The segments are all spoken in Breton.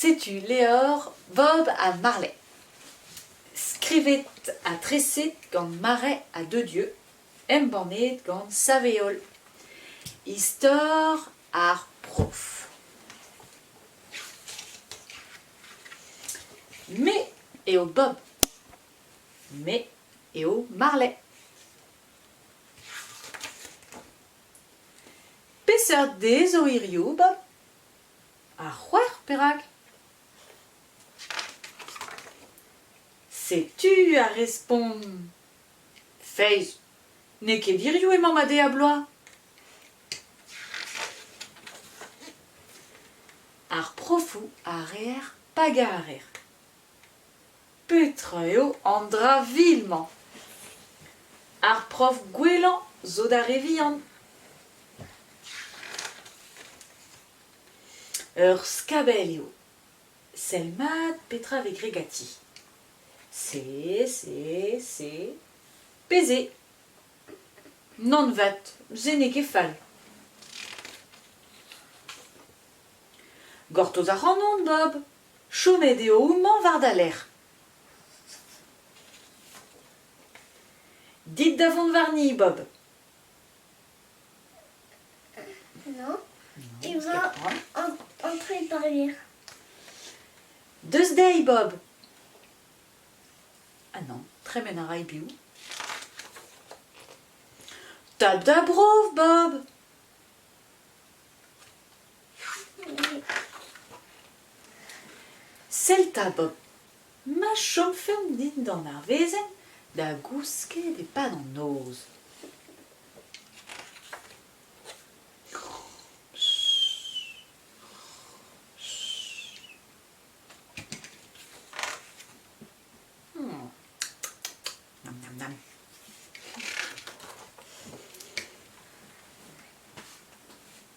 Setu levr Bob ha Marley, skrivet ha treset gant Marais Dededieu, embannet gant Saveol. Istor ar prof. Me eo Bob. Me eo Marley. Peseurt dez zo hirio, Bob? Ha c'hwec'h perak ? Setu ar respont. Feiz, n'eo ket hiriv emañ ma de a-bloaz. Ar profoù a reer pa garer. Petra eo an dra vil-mañ? Ar prof gwellañ zo d'ar re vihan. Ur skabell eo. Sell mat petra vez graet ganti. C, C, C, P, Z. Nann 'vat, se n'eo ket fall. Gortoz ac'hanon, Bob. Chomet eo houmañ war da lerc'h. Dit da vont warni, Bob. Non, il va entrer par hier. Deus dezhi, Bob. Ah non, tremen a ray biv. Tap da brof, Bob. Sell 'ta, Bob, ma chomfemp dindan ar wezenn da gousket e-pad an noz. Hmm. Nam, nam, nam.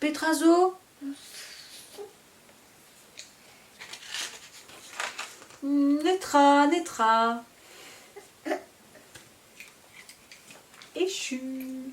Petra zo? Netra, netra. Echu.